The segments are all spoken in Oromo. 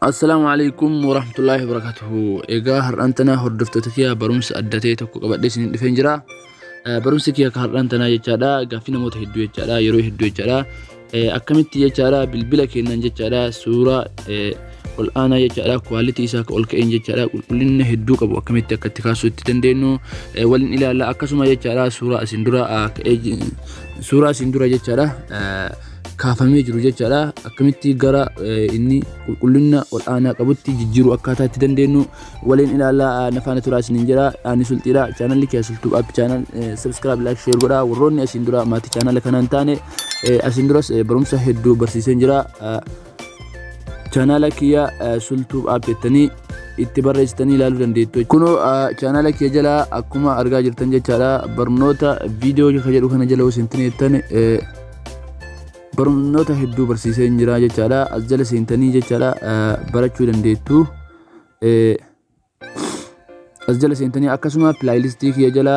Assalaamu alaikum warahmatullaahi wabarakatuhu. Egaa har'aan tanaa hordoftoota kiyyaa barumsa adda ta'e tokko qabadhee isiniif dhufeen jira. Eh, Barumsi kiyya akka har'aan tanaa jechaadha gaaffii namoota hedduu jechaadha yeroo hedduu jechaadha Eh, akkamitti jechaadha bilbila keenyaan jechaadha suuraa eh, ol aanaa jechaadha kwaalitii isaa akka ol ka'een jechaadha qulqullina hedduu qabu akkamitti akka itti kaasuu itti dandeenyu eh, waliin ilaalla akkasuma jechaadha suuraa isin dura ah, ka'ee ji- suuraa isin dura jechaadha. eh, kaafamee jiru jechaadha. Akkamitti gara inni qulqullina ol'aanaa qabutti jijjiiruu akkaataa itti dandeenyu waliin ilaalaa na faana turaa isiniin jedha. Ani sulxiidha. Chaanalli kee sulxuu app chaanal subscribe like share godha. Warroonni asiin dura maatii chaanala kanaa hin taane asiin duras barumsa hedduu barsiiseen jira. Chaanala kiyya sulxuu app jettanii itti barreessitanii ilaaluu dandeettu. Kunoo chaanala kee jala akkuma argaa jirtan jechaadha barnoota viidiyoo jedhu kana jala osoo hin taane barnoota hedduu barsiisee hin jiraa jechaadha as jala seentanii jechaadha barachuu dandeettu as jala seentanii akkasuma pilaayilistii kiyya jala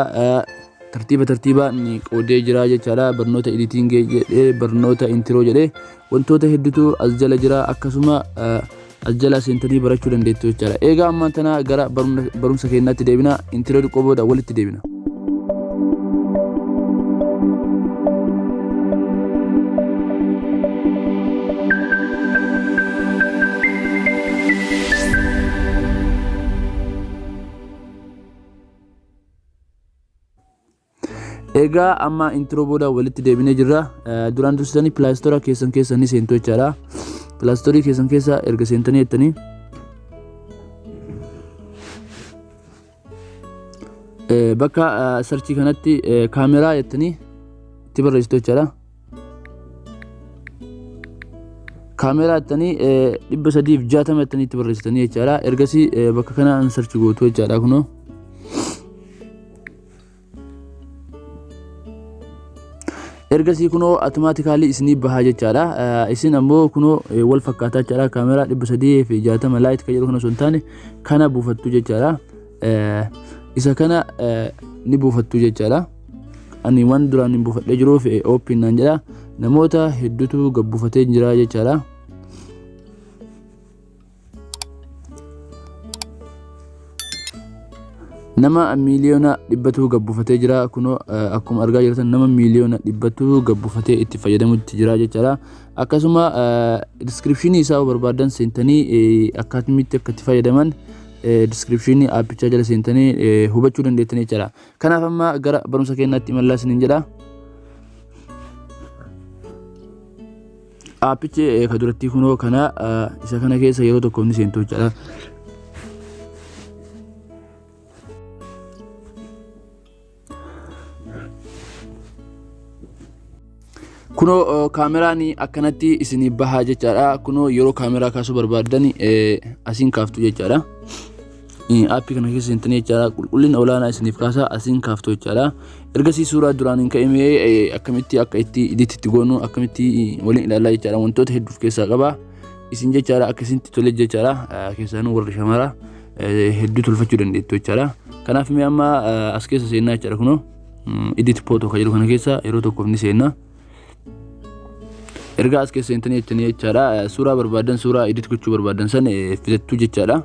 tartiiba tartiibaan qoodee jiraa jechaadha barnoota editingee jedhee barnoota intiroo jedhee wantoota hedduutu as jala jira akkasuma as jalaa seentanii barachuu dandeettu jechaadha. Eegaa ammaan tana gara barumsa keenyaatti deebina intiroo xiqqoo booda walitti deebina. Egaa amma intro booda walitti deebinee jirra. Duraan dursitanii pilaastora keessan keessa ni seentu jechaadha. Pilaastorii keessan keessa erga seentanii jettanii bakka sarchii kanatti kaameraa jettanii itti barreessitu jechaadha. Kaameraa jettanii dhibba sadiif jaatama jettanii itti barreessitanii jechaadha. Ergasii bakka kanaan sarchi gootu jechaadha kunoo. ergasii kunoo automaatikaalii isinii bahaa jechaadha Eh, isin ammoo kunoo eh, wal fakkaataa jechaadha kaameraa dhibba sadii fi jaatama laayit kan jedhu kana osoo hin taane kana buufattu jechaadha Eh, isa kana eh, ni buufattu jechaadha ani waan duraan hin buufadhee jiruuf eh, ooppiin naan jedha namoota hedduutu gabbuufatee jira jechaadha nama miiliyoona dhibbatuu gabbufatee jira kunoo eh, akkuma argaa jirtan nama miiliyoona dhibbatuu gabbufatee itti fayyadamutti jira jechaadha akkasuma diskiripshinii isaa yoo barbaadan seentanii eh, akkaatimitti akka itti fayyadaman diskiripshinii aappichaa jala seentanii eh, hubachuu dandeettanii jechaadha kanaaf amma gara barumsa keenyaatti imallaa isiniin jedha Aappichi ka durattii kunoo kana isa kana keessa yeroo tokko ni seentu jechaadha. Kunoo kaameraan akkanatti isin bahaa jechaadha. Kunoo yeroo kaameraa kaasuu barbaaddan asiin kaaftu jechaadha. Aappii kana keessa seentanii jechaadha qulqullina olaanaa isiniif kaasaa asiin kaaftu jechaadha. Ergasii suuraa duraan hin ka'imee akkamitti akka itti iditti itti goonu akkamitti waliin ilaalaa jechaadha wantoota hedduuf keessaa qaba. Isin jechaadha akka isinitti tole jechaadha keessaanuu warri shamara hedduu tolfachuu dandeettu jechaadha. Kanaaf mee amma as keessa seennaa jechaadha kunoo iditti pootoo kan jedhu kana keessa yeroo tokkoof ni seennaa. erga as keessa seentanii jettanii jechaadha suuraa barbaadan suuraa edit gochuu barbaadan san filattuu jechaadha.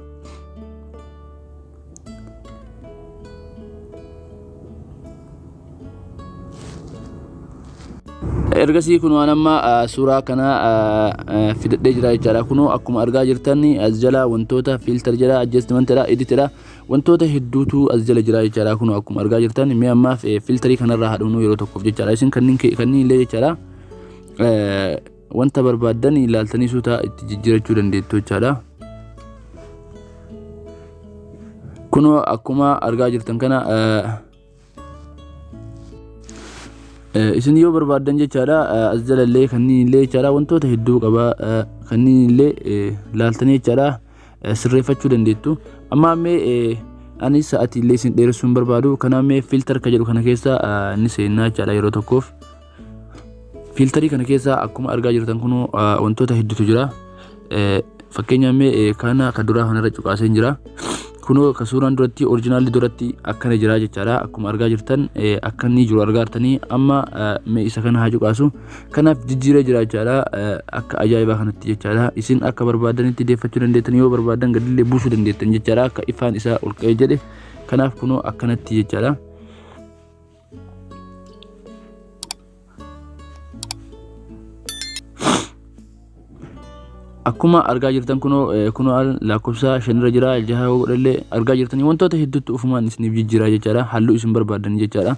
ergasii kun waan amma suuraa kana fidadhee jira jechaadha kunoo akkuma argaa jirtan as jala wantoota filter jira adjustment jira edit jira Wantoota hedduutu as jala jira jechaadha kunoo akkuma argaa jirtan mee ammaaf filtarii kanarraa haadhumnuu yeroo tokkoof jechaadha isin kanneen illee jechaadha wanta barbaaddan ilaaltanii suuta itti jijjiirachuu dandeettu jechaadha. Kunoo akkuma argaa jirtan kana isin yoo barbaaddan jechaadha as jalallee kanneen illee jechaadha wantoota hedduu qaba kanneen illee laaltanii jechaadha sirreeffachuu dandeettu amma ammee anis sa'aatii illee isin dheeressuun barbaadu kanaaf mee filtar ka jedhu kana keessa ni seennaa jechaadha yeroo tokkoof Fiiltarii kana keessa akkuma argaa jirtan kun wantoota hedduutu jira. Fakkeenyaaf mee kana kan duraa kanarra cuqaaseen jira. Kunoo kan suuraan duratti orijinaalli duratti akkana jira jechaadha. Akkuma argaa jirtan akka inni jiru argaa jirtanii amma mee isa kana haa cuqaasu. Kanaaf jijjiiree jira jechaadha. Akka ajaa'ibaa kanatti jechaadha. Isin akka barbaadanitti deeffachuu dandeettan yoo barbaadan gadillee buusuu dandeettan jechaadha. Akka ifaan isaa ol ka'ee jedhe kanaaf kunoo akkanatti jechaadha. akkuma argaa jirtan kunoo eh, kunoo al- lakkoofsa shanirra jira jaha yoo godhallee argaa jirtanii wantoota hedduutti ufumaan isiniif jijjiiraa jechaadha halluu isin barbaadan jechaadha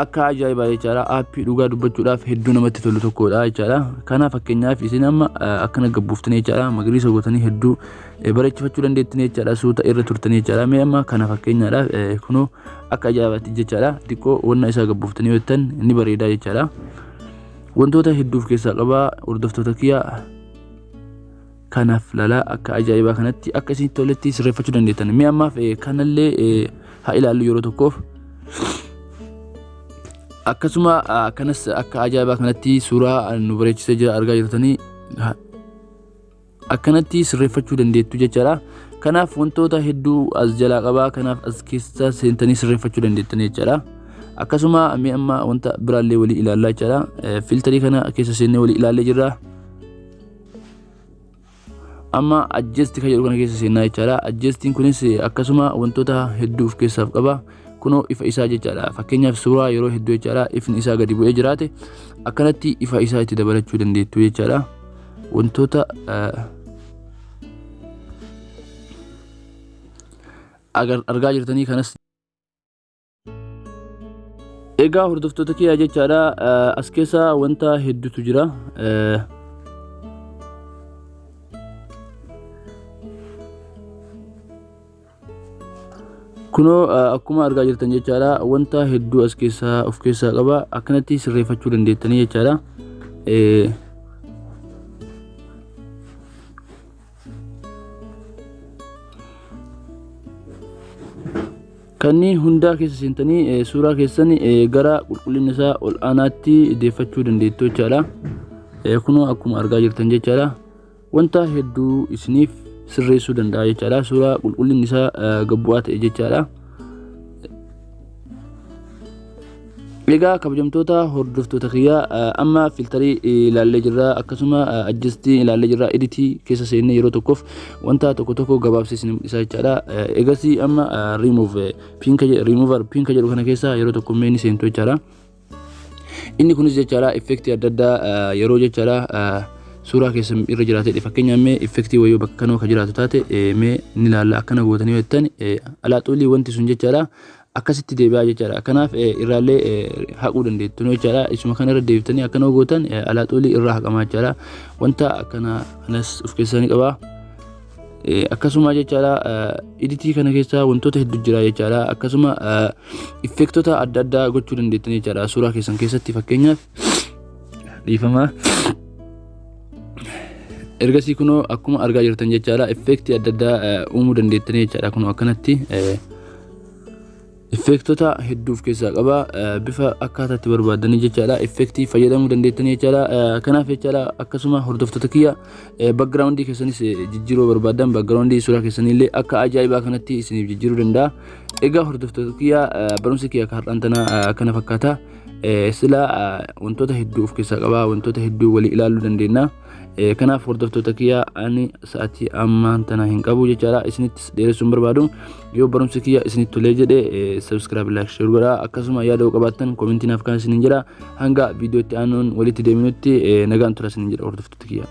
akka ajaa'ibaa jechaadha aappii dhugaa dubbachuudhaaf hedduu namatti tolu tokkodha jechaadha kana fakkeenyaaf isin amma eh, akkana gabbuuftanii jechaadha magariisa gootanii hedduu eh, bareechifachuu dandeettanii jechaadha suuta irra turtanii jechaadha mee amma kana fakkeenyaadhaaf eh, kunoo akka ajaa'ibaatti jechaadha xiqqoo wanna isaa gabbuuftanii hojjetan ni bareedaa jechaadha wantoota hedduuf keessaa qabaa hordoftoota kiyya kanaaf lalaa akka ajaa'ibaa kanatti akka isinitti toletti sirreeffachuu dandeettan mee ammaaf eh, kanallee eh, haa ilaallu yeroo tokkoof akkasuma ah, akkanas akka ajaa'ibaa kanatti suuraa ah, nu bareechisee jira argaa jirtanii ha- akkanatti sirreeffachuu dandeettu jechaadha. Kanaaf wantoota hedduu as jalaa qabaa kanaaf as keessa seentanii sirreeffachuu dandeettan jechaadha. Akkasuma mee amma wanta biraallee walii ilaallaa jechaadha. Filtarii kana keessa seennee walii ilaallee jirra. Amma ajjeesti kan jedhu kana keessa seennaa jechaadha. Ajjeestiin kunis akkasuma wantoota hedduu of keessaaf qaba. Kunoo ifa isaa jechaadha. Fakkeenyaaf suuraa yeroo hedduu jechaadha ifni isaa gadi bu'ee jiraate akkanatti ifa isaa itti dabalachuu dandeettu jechaadha. wantoota argaa jirtanii kanas egaa hordoftoota kiyyaa jechaadha as keessa wanta hedduutu jira kunoo akkuma argaa jirtan jechaadha wanta hedduu as keessaa of keessaa qaba akkanatti sirreeffachuu dandeettanii jechaadha kanneen hundaa keessa seentanii suuraa keessan gara qulqullina isaa ol aanaatti deeffachuu dandeettu jechaadha kunoo akkuma argaa jirtan jechaadha Wanta hedduu isiniif sirreessuu danda'a jechaadha. Suuraa qulqullinni isaa gabbu'aa ta'e jechaadha. Egaa kabajamtoota hordoftoota kiyyaa amma filtarii ilaallee jirra akkasuma ajjistii ilaallee jirra editii keessa seennee yeroo tokkoof wanta tokko tokko gabaabsee isin mul'isa jechaadha. Egasii amma remove pinka remove pinka jedhu kana keessa yeroo tokko mee ni seentu jechaadha. Inni kunis jechaadha effektii adda addaa yeroo jechaadha suuraa keessan irra jiraatedha. Fakkeenyaaf mee effektii wayii bakka kanoo kan jiraatu taate mee ni ilaalla akkana gootanii jettan alaaxuulii wanti sun jechaadha akkasitti deebi'aa jechaadha. Kanaaf irraallee haquu dandeettu jechaadha. Isuma kana irra deebitanii akkana gootan alaaxuulii irraa haqamaa jechaadha. Wanta akkana kanas of keessaa ni qabaa. akkasuma jechaadha iditii kana keessa wantoota heddu jira jechaadha akkasuma effektota adda addaa gochuu dandeettan jechaadha suuraa keessan keessatti fakkeenyaaf dhiifama ergasii kunoo akkuma argaa jirtan jechaadha effektii adda addaa uumuu dandeettan jechaadha kunoo akkanatti Effeektota hedduu of keessaa qaba. Bifa akkaataa itti barbaadanii jechaadha. Effeektii fayyadamuu dandeettanii jechaadha. Kanaaf jechaadha akkasuma hordoftoota kiyya backgroundii keessanis jijjiiruu barbaadan backgroundii suuraa keessanii illee akka ajaa'ibaa kanatti isiniif jijjiiruu danda'a. Egaa hordoftoota kiyya barumsi kiyya akka har'aan tana kana fakkaata. Sila wantoota hedduu of keessaa qaba. Wantoota hedduu walii ilaaluu dandeenya. Eh, kanaaf hordoftoota kiyya ani sa'atii ammaan tana hin qabu jechaadha isinittis dheeressuun barbaadu yoo barumsi kiyya isinit tolee jedhe eh, subscribe like share godha akkasuma yaada yoo qabaattan komentii naaf kan isinin jedha hanga viidiyootti aanuun walitti deeminutti eh, nagaan tura isinin jedha hordoftoota kiyya